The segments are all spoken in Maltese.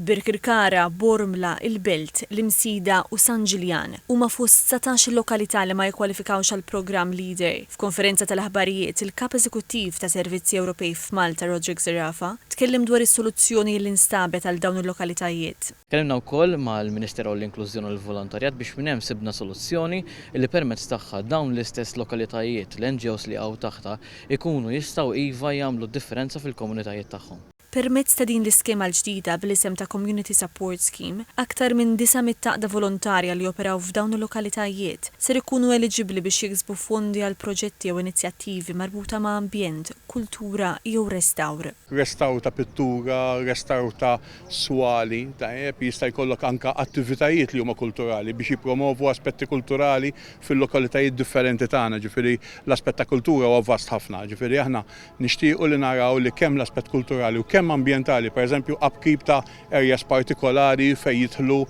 Birkirkara, Bormla, il-Belt, l-Imsida u San Ġiljan huma fost satax lokalità li ma jikkwalifikawx għall-programm Leader. F'konferenza tal-aħbarijiet, il-Kap Eżekuttiv ta' Servizzi Ewropej f'Malta Roderick Zerafa tkellem dwar is-soluzzjoni li nstabet għal dawn il-lokalitajiet. Tkellimna wkoll mal-Minister għall-Inklużjoni u l-Volontarjat biex minn hemm sibna soluzzjoni li permezz tagħha dawn l-istess lokalitajiet, l-NGOs li jaqgħu taħtha, ikunu jistgħu iva jagħmlu d-differenza fil-komunitajiet tagħhom. Permezz ta' din l-iskema l-ġdida bl-isem ta' Community Support Scheme, aktar minn 900 għaqda volontarja li joperaw f'dawn il-lokalitajiet ser ikunu eliġibbli biex jiksbu fondi għal proġetti jew inizjattivi marbuta ma' ambjent, kultura jew restawr. Restawr ta' pittura, restawr ta' swali, tajjeb, jista' jkollok anke attivitajiet li huma kulturali biex jippromovu aspetti kulturali fil-lokalitajiet differenti tagħna, ġifieri l-aspett ta' kultura huwa vast ħafna, ġifieri aħna Nixtiequ li naraw li kemm l-aspett kulturali u kemm ambjentali, pereżempju upkeep ta' areas partikolari fejn jidħlu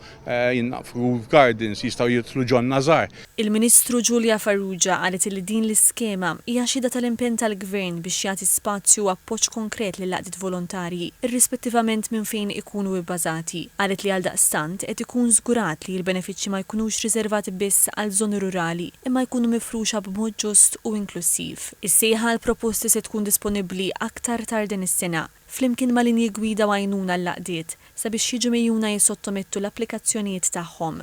naf roof gardens, jistgħu jidħlu ġonna żgħar. Il-Ministru Julia Farrugia qalet li din l-iskema hija xhieda tal-impenn tal-Gvern biex jagħti spazju u appoġġ konkret lill-għaqdiet volontarji, irrispettivament minn fejn ikunu bbażati. Qalet li għaldaqstant qed ikun żgurat li l-benefiċċji ma jkunux riservati biss għal żoni rurali imma jkunu mifruxa b'mod ġust u inklussiv. Is-sejħa għall-proposti se tkun disponibbli aktar tard din is-sena, flimkien ma' linji gwida u għajnuna għall-għaqdiet, sabiex jiġu mgħejjuna jissottomettu l-applikazzjonijiet tagħhom.